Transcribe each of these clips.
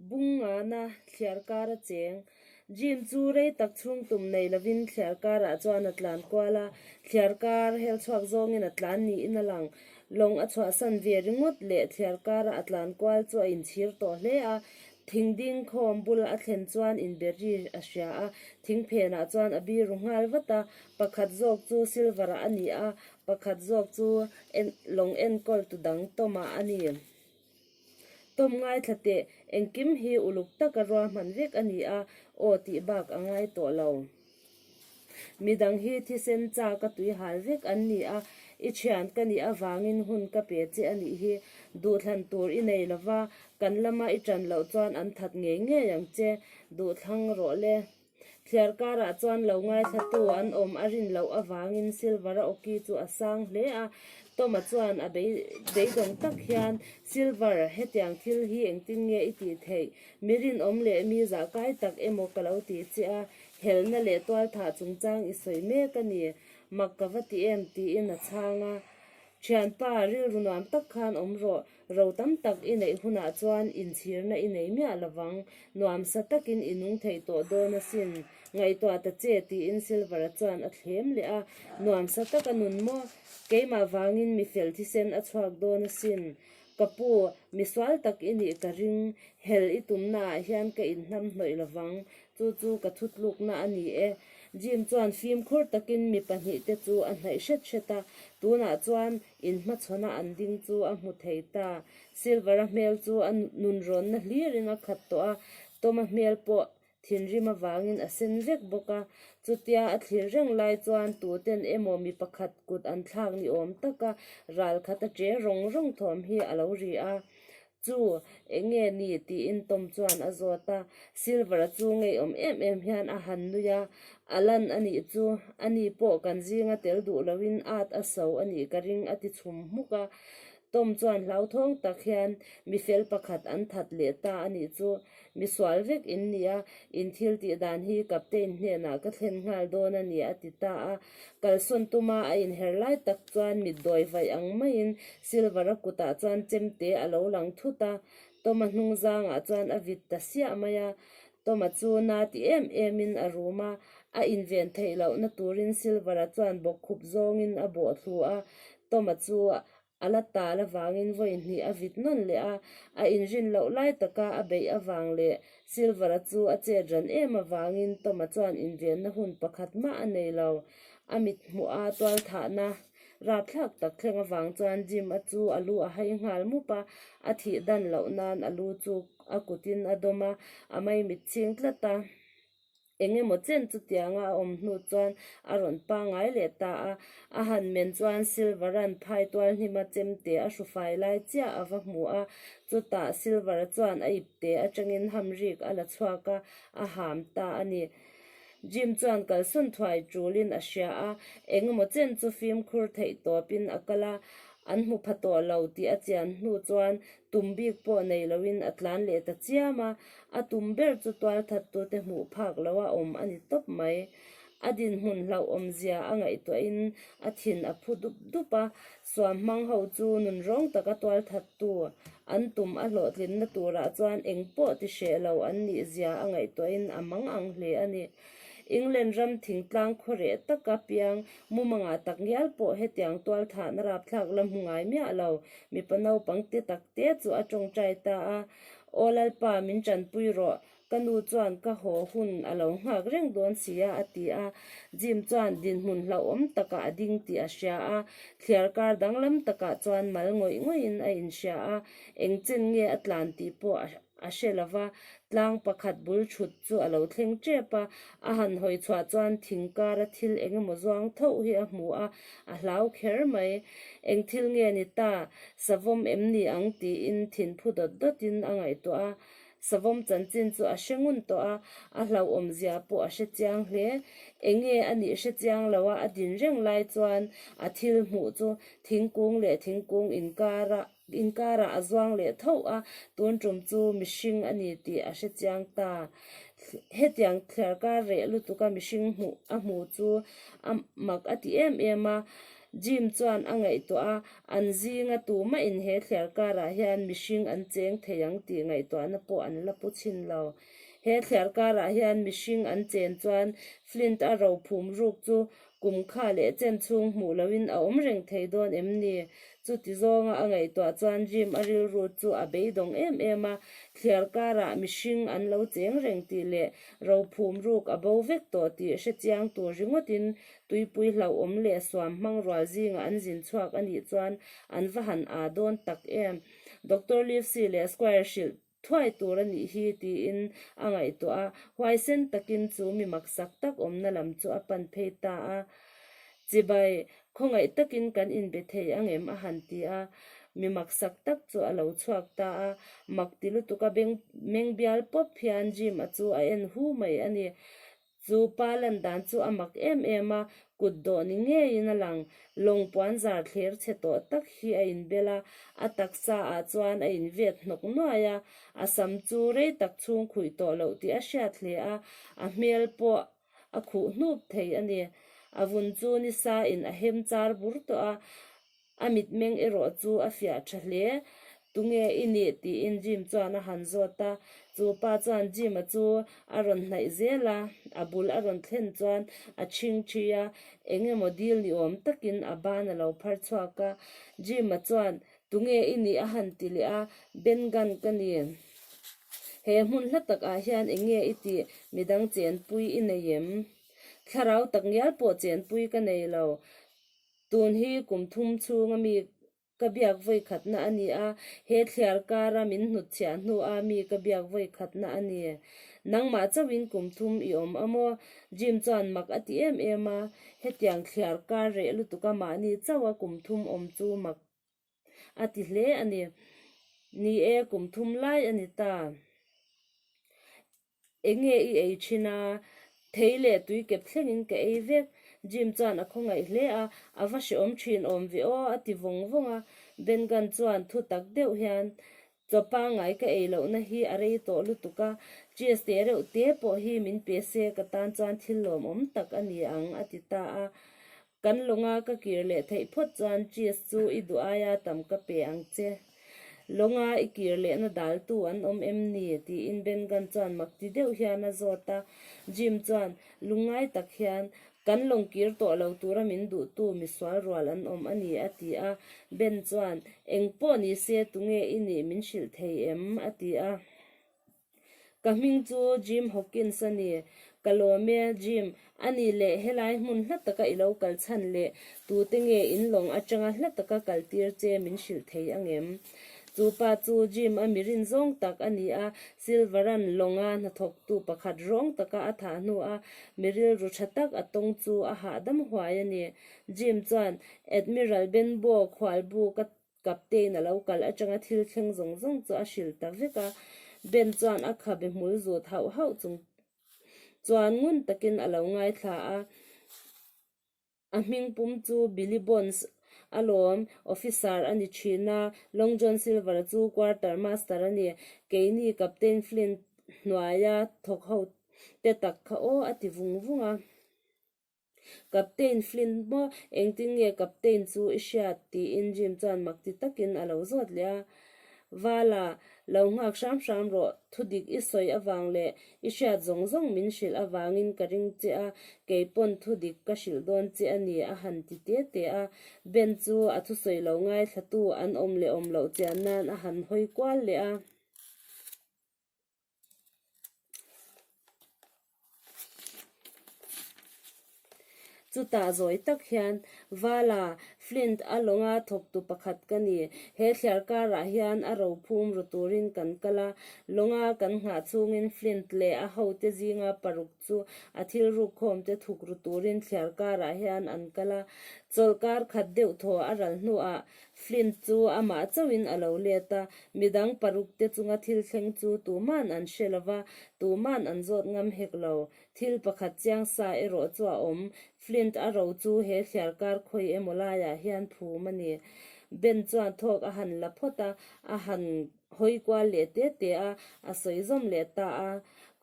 Bung ngahna thliar kar a cheng. Jim chu rei tak chhung tum nei lovin thliar karah chuan a tlan kual a, thliar kar hel chhuak zawngin a tlan niin a lang. Lawng a chhuahsan ve ringawt leh thliar kara a tlan kual chu a inchhir tawh hle a. Thing dingkhawm bula a thlen chuan inberry a hria a, thing phenah chuan a biru nghal vat a. Pakhat zawk chu silver-ah a ni a, Pakhat zawk chu en lawng enkawl tu dang Tawma a ni. Tawm ngaithla teh engkim hi uluk taka ruahman vek a ni a, aw tih bak a ngai tawh lo. Midang hi thisen cha ka tui hal vek an ni a, i thian ka nih avangin hun ka pe che a nih hi, duhthlan tur i nei lova, kan lama i tan loh chuan an that ngei ngei ang che, duhthlang rawh le. Thliar karah chuan lo ngaithlatu an awm a rin loh avangin Silver-a Oki chu a sang hle a. Tom-a chuan a beidawng tak hian, Silver, hetiang thil hi engtin nge i tih theih? Mi rinawm leh mi zahkai tak emaw ka lo tih chiah a, helhna leh tualthah chungchang i sawi mek a ni. Mak ka va ti em? tiin a chhang a. Thianpa, rilru nuam tak khan awm rawh. Ro tam tak i neih hunah chuan inchhirna i nei miah lo vang. Nuam sa takin i nung thei tawh dawn asin. Ngaihtuah ta che, tiin Silvera chuan a thlem leh a. Nuam sa tak a nun maw? Keimah vangin mi fel thisen a chhuak dawn asin. Ka pu, mi sual tak i nih ka ring. Hel i tumna ah hian ka inhnam hnawih lo vang. Chu chu ka thutlukna a ni e. Jim chuan fimkhur takin mi pahnih te chu a hnaih hret hret a. Tunah chuan. In hmachhawnah an ding chu a hmu thei ta. Silvera hmel chu a nun rawnna hlirin a khat tawh a, Toma hmel pawh thinrim avangin a sen vek bawk a. Chutia a thlirh reng lai chuan tuten emaw mi pakhat kut an thlak ni awm taka ral khat a che rawng rawng thawm hi a lo ri a. Chu eng nge ni? tiin Tom chuan a zawt a. Silver chu ngeiawm em em hian a han nui a. Alan a nih chu, a ni pawh kan zing a tel duh loin at a so a nih ka ring a ti chhum hmuk a. Tom chuan hlauthawng tak hian, Mi fel pakhat an that leh ta a nih chu, mi sual vek in nia, in thil tih dan hi Captain hnenah ka thlen nghal dawn a ni a ti ta a. Kalsawn tuma a inher lai tak chuan mit dawi vaih ang maiin Silver a kutah chuan chemte a lo lang thut a. Tawma hnung zangah chuan a vit ta siah mai a. Tawma chu na ti em emin a rum a. A inven theih lohna turin Silver-a chuan bawkkhup zawngin a bawhthlu a. Tawma chu a la tal avangin vawi hnih a vit nawn leh a, a inrin loh lai taka a beih avang leh Silver-a chu a chet ran em avangin Tom-a chuan invianna hun pakhat mah a nei lo. A mit hmuha tualthahna rapthlak tak thleng avang chuan Jim-a chu a lu a hai nghal mup a, a thih dan loh nan a lu chu a kutin a dawm a, a mai mit chhing tlat a. eng emaw chen chutianga a awm hnu chuan a rawn pangai leh ta a, a han men chuan Silvera'n phai tual hnim a chem teh a hru fai lai chiah a va hmu a, chutah Silvera chuan a ip teh atangin hamrik a la chhuak a, a ham ta a ni. Jim chuan kalsawn thuai tulin a hria a, eng emaw chen chu fimkhur theih tawpin a kal a, an hmu pha tawh lo tih a chian hnu chuan Tum bik pawh nei loin a tlan leh ta chiam a, a tum ber chu tual that tu te hmuh phak lo a awm a ni tawp mai. A dinhmun hlauhawm zia a ngaihtuah in a thin a phu dup dup a, suam hmang ho chu nun rawng taka tual that tu an tum a hlawhtlinna turah chuan engpawh ti hreh lo an nih zia a ngaihtuah in a mang ang hle a ni. England ram thingtlang khaw reh taka piang mumanga tak ngial pawh hetiang tualthahna rapthlak la hmu ngai miah lo. Mipa naupang te tak te chu a tawngtai ta a, Aw Lalpa min tanpui rawh, ka nu chuan ka haw hun a lo nghak reng dawn si a, a ti a. Jim chuan dinhmun hlauhawm takah a ding tih a hria a, thliar kar danglam takah chuan mal ngawih ngawih in a inhria a, engchen nge a tlan tih pawh a A hre lo va, tlang pakhat bul thut chu a lo thleng tep a, a han hawi chhuah chuan thing kara thil eng emaw zuang thoh hi a hmu a, a hlau kher mai. Eng thil nge ni ta, savawm em ni ang tiin thin phu dawt dawtin a ngaihtuah a. Savawm chanchin chu a hre ngun tawh a, a hlauhawm zia pawh a hre chiang hle. Eng nge a nih hre chiang lo a, a din reng lai chuan a thil hmuh chu thingkung leh thingkung inkar ah, Inkarah a zuang leh thauh a, tun ṭum chu mihring a ni tih a hre chiang ta. Hetiang thliar kar reh lutuka mihring hmuh a hmu chu a mak a ti em em a. Jim chuan a ngaihtuah a, an zinga tu mahin he thliar karah hian mihring an cheng thei ang tih ngaihtuahna pawh an la pu chhin lo. He thliar karah hian mihring an chen chuan Flint a rophum ruk chu Kum kha leh chen chhung hmuh lo in a awm reng thei dawn em ni? Chuti zawnga a ngaihtuah chuan Jim a rilru chu a beidawng em em a, thliar karah mihring an lo cheng reng tih leh rophum ruk a bo vek tawh tih hrechiang tur ringawtin tuipui hlauhawm leh suam hmang rual zingah an zin chhuak a nih chuan an va han aa dawn tak em? Doctor Livesey leh Squire hrilh thuai tur a nih hi tiin a ngaihtuah a, huaisen takin chu mi maksak tak awmna lam chu a pan phei ta a, Chibai, khawngaih takin kan inbe thei ang em? a han ti a, mi maksak tak chu a lo chhuak ta a, mak ti lutuk a beng meng bial pawp hian Jim-a chu a en hu mai a ni, Chu pa lan dan chu a mak em em a, kut dawh ni ngeiin a lang. Lawng puanzar thler chhe tawh tak hi a inbel a, a taksa ah chuan a invet hnawk nuai a. A sam chu rei tak chhungkhuih tawh loh tih a hriat hle a, a hmel pawh a khuh hnup thei a ni. A vun chu ni sa in a hem char bur tawh a. A mitmeng erawh chu a fiah tha hle. Tunge i nih? tiin Jim chuan a han zawt a. Chu pa chuan Jim-a chu a rawn hnaih zel a, a bul a rawn thlen chuan a chhing thi a, eng emaw dil ni awm takin a ban a lo phar chhuak a. Jim-a chuan, Tunge i nih? a han ti leh a. Ben Gunn ka ni. He hmun hla takah hian eng nge i tih? Midang chenpui i nei em? Thlarau tak ngial pawh chenpui ka nei lo. Tun hi kum thum chhunga mi ka biak vawikhatna a ni a, he thliar kara min hnut chhiah hnuah a mi ka biak vawikhatna a ni. Nangmah chauhin kum thum i awm a maw? Jim chuan mak a ti em em a, hetiang thliar kar reh lutuka mahni chauha kum thum awm chu mak a ti hle a ni. Ni e, kum thum lai a ni ta. Eng nge i ei thin a? Thei leh tui kep thlengin ka ei vek. Jim chuan a khawngaih hle a, A va hreawm thin awm ve aw, a ti vawng vawng a. Ben Gunn chuan thutak deuh hian, Chaw pangngai ka ei lohna hi a rei tawh lutuk a, cheese te reuh te pawh hi min pe se, ka tan chuan thil lawmawm tak a ni ang, a ti ta a. Kan lawnga ka kir leh theih phawt chuan cheese chu i duh ai a tam ka pe ang che. Lawnga i kir lehna daltu an awm em ni? tiin Bengan chuan mak ti deuh hian a zawt a. Jim chuan, Lungngai tak hian kan lawng kir tawh lo tura min duhtu misual rual an awm a ni, a ti a. Ben chuan, Engpawh ni se tunge i nih min hrilh thei em? a ti a. Ka hming chu Jim Hawkins a ni. Ka lawm e, Jim. Ani leh helai hmun hla taka i lo kal chhan leh tute nge in lawng atanga hla taka kal tir che min hrilh thei ang em? Chu pa chu Jim a mi rin zawng tak a ni a, Silveran lawnga hnathawktu pakhat rawng taka a thah hnu a, mi rilru tha tak a tawng chu a hahdam huai a ni. Jim chuan Admiral Benbow khualbu ka Captain-a lo kalh atanga thil thleng zawng zawng chu a hrilh ta vek a, Ben chuan a kha bihmul zut hauh hauh chung chuan ngun takin a lo ngaithla a, a hming pum chu Billy Bonds a lawm, Officer a ni thin a, Long John Silver chu Quarter Master a ni, keini Captain Flint hnuaia thawkhote tak kha aw a ti vung vung a. Captain Flint maw? Engtin nge Captain chu i hriat? tiin Jim chuan mak ti takin a lo zawt leh a. Vala, lo nghak hram hram rawh, thudik i sawi avang leh i hriat zawng zawng min hrilh avangin ka ring che a, kei pawn thudik ka hrilh dawn che a ni, a han ti te te a. Ben chu a thusawi lo ngaithlatu an awm leh awm loh chian nan a han hawi kual leh a. Chutah zawi tak hian Vala, Flint, a lawnga thawktu pakhat ka ni. He thliar karah hian a ro phum ru turin kan kal a, lawnga kan nghah chungin Flint leh a hote zinga paruk chu a thil ruk khawm te thuk ru turin thliar karah hian an kal a, chawl kar khat deuh thaw a ral hnuah Flint chu amah chauhin a lo let a, midang paruk te chunga thil thleng chu tuma'n an hre lo va, tuma'n an zawt ngam hek lo. Thil pakhat chiang sa erawh chu a awm, Flint a ro chu he thliar kar khawi emaw laiah hian phum a ni. Ben chuan thawk a han la phawt a, a han. hawi kual leh te te a, a sawi zawm leh ta a.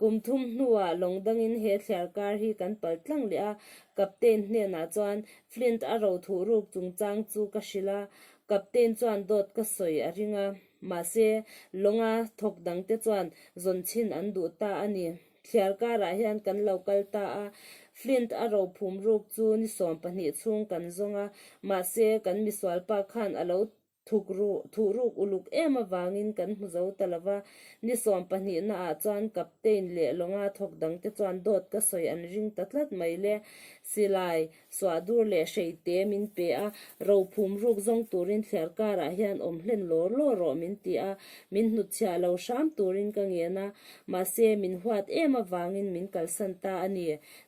Kum thum hnuah lawng dangin he thliar kar hi kan palh tlang leh a. Captain hnenah chuan Flint a ro thuh ruk chungchang chu ka hrilh a, Captain chuan dawt ka sawi a ring a. Mahse, lawnga thawk dang te chuan zawn chhin an duh ta a ni. Thliar karah hian kan lo kal ta a, Flint a ro phum ruk chu ni sawm pahnih chhung kan zawng a, mahse kan misual pa khan a lo thuk ru, thuh ruk uluk em avangin kan hmu zo ta lova, ni sawm pahnihna ah chuan Captain leh Lawnga thawk dang te chuan dawt ka sawi an ring ta tlat mai le. Silai, suah dur leh hrei te min pe a, ro phum ruk zawng turin thliar kar ah hian awm hlen lawr lawr rawh min ti a, min hnut chhiah lo hram turin ka ngen a, mahse min huat em avangin min kalsan ta a ni.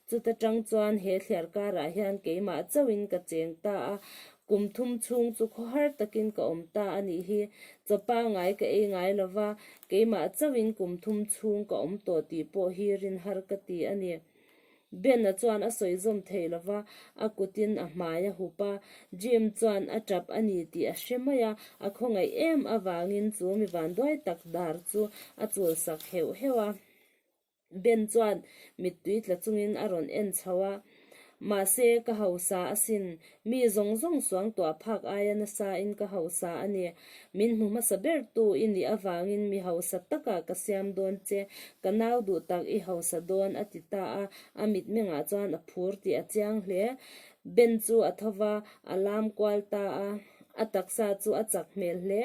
Chuta tang chuan he thliar kar ah hian keimah chauhin ka cheng ta a, Kum thum chhung chu khaw har takin ka awm ta a nih hi, chaw pangai ka ei ngai lo va, keimah chauhin kum thum chhung ka awm tawh tih pawh hi rin har ka ti a ni. Ben-a chuan a sawi zawm thei lo va, a kutin a hmai a hup a, Jim chuan a tap a ni tih a hre mai a, a khawngaih em avangin chu mi vanduai tak dar chu a chulsak heuh heuh a. Ben chuan mittui tla chungin a rawn en chho a, mahse ka hausa asin, mi zawng zawng suang tuah phak aia nasain ka hausa a ni, min hmu hmasa ber tu i nih avangin mi hausa taka ka siam dawn che, ka nau duh tak i hausa dawn a ti ta a, a mitmengah chuan a phur tih a chiang hle. Ben chu a tho va, a lam kual ta a, a taksa chu a chak hmel hle,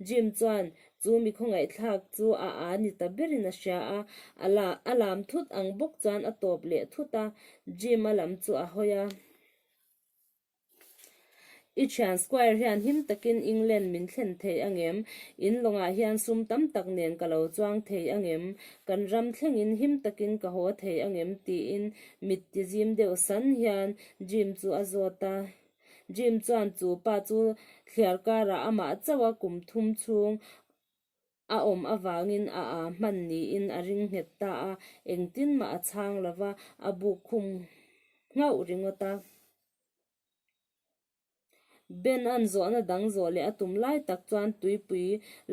Jim chuan Chu mikhaw ngaihthlak chu a aani ta berin a hria a, a la a lam thut ang bawk chuan a tawp leh thut a, Jim a lam chu a hawi a. I thian Squire hian him takin England min thlen thei angem? In lawngah hian sum tam tak nen ka lo chuang thei angem? Kan ram thlengin him takin ka haw thei angem? tiin mittiazim deuh san hian Jim chu a zawt a. Jim chuan chu pa chu thliar karah amah chauha kum thum chhung a awm avangin a aa hman niin a ring nghet ta a, engtin mah a chhang lo va, a buk khum nghauh ringawt a. Ben an zawhna dang zawh leh a tum lai tak chuan tuipui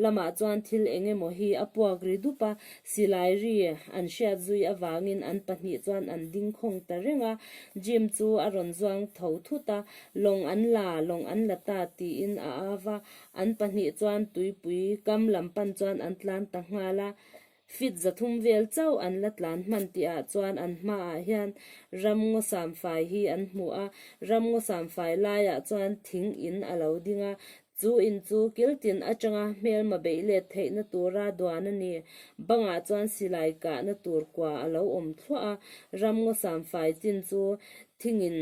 Lamah chuan thil eng emaw hi a puak ri dup a, silai ri an hriat zui avangin an pahnih chuan an dingkhawng ta reng a. Jim chu a rawn zuang tho thut a, lawng an la, lawng an la ta tiin a au va, an pahnih chuan tuipui kam lam pan chuan an tlan ta nghal a. Fit zathum vel chauh an la tlan hman tih ah chuan an hma ah hian ram ngawsam fai hi an hmu a, ram ngawsam fai lai ah chuan thing in a lo ding a, chu in chu kiltin atanga hmelma beih let theih na tur a duan a ni, bang ah chuan silai kah na tur kua a lo awm thluah a, ram ngawsam fai chin chu thing in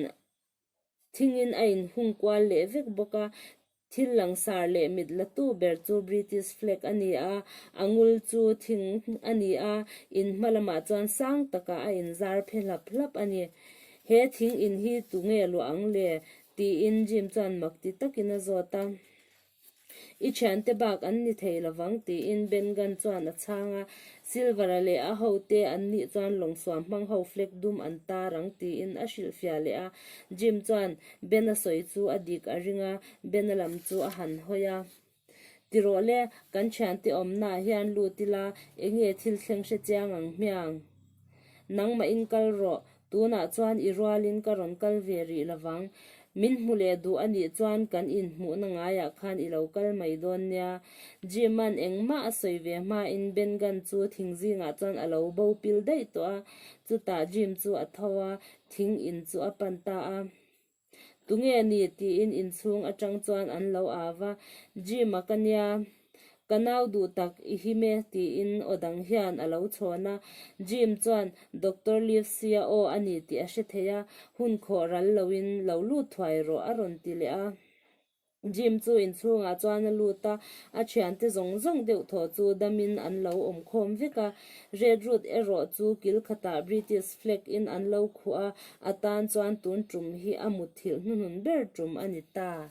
thingin a inhung kual leh vek bawk a. Thil langsar leh mit latu ber chu British flag a ni a, a ngul chu thing a ni a, in hma lamah chuan sang takah a inzar phe hlap hlap a ni. He thing in hi tunge luah ang le? tiin Jim chuan mak ti takin a zawt a. I thiante bak an ni thei lovang, tiin Ben Gunn chuan a chhang a. Silver-a leh a hote an nih chuan lawngsuam hmang ho flag dum an tar ang, tiin a hrilhfiah leh a. Jim chuan Ben-a sawi chu a dik a ring a, Ben-a lam chu a han hawi a. Tirawh le, kan thiante awmnaah hian lut ila, enge thil thleng hre chiang ang hmiang? Nangmahin kal rawh, Tunah chuan i rualin ka rawn kal ve rih lo vang. Min hmu leh duh a nih chuan kan inhmuhna ngaiah khan i lo kal mai dawn nia. Jim-a'n engmah a sawi ve hmain Bengan chu thing zingah chuan a lo bopil daih tawh a. Chutah Jim chu a tho a, thing in chu a pan ta a. Tunge ni? tiin inchhung atang chuan an lo âv a. Jim a ka nia. Ka nau duh tak i him e tiin aw dang hian a lo chhawn a. Jim chuan, Doctor Livesey-a aw a ni tih a hre thei a, hun khawh ral loin lo lut thuai rawh a rawn ti leh a. Jim chu inchhungah chuan a lut a, a thiante zawng zawng deuh thawh chu damin an lo awm khawm vek a. Red Route erawh chu kil khatah British flag in an lo khuh a, a tan chuan tun tum hi a mutthilh hnuhnun ber tum a ni ta.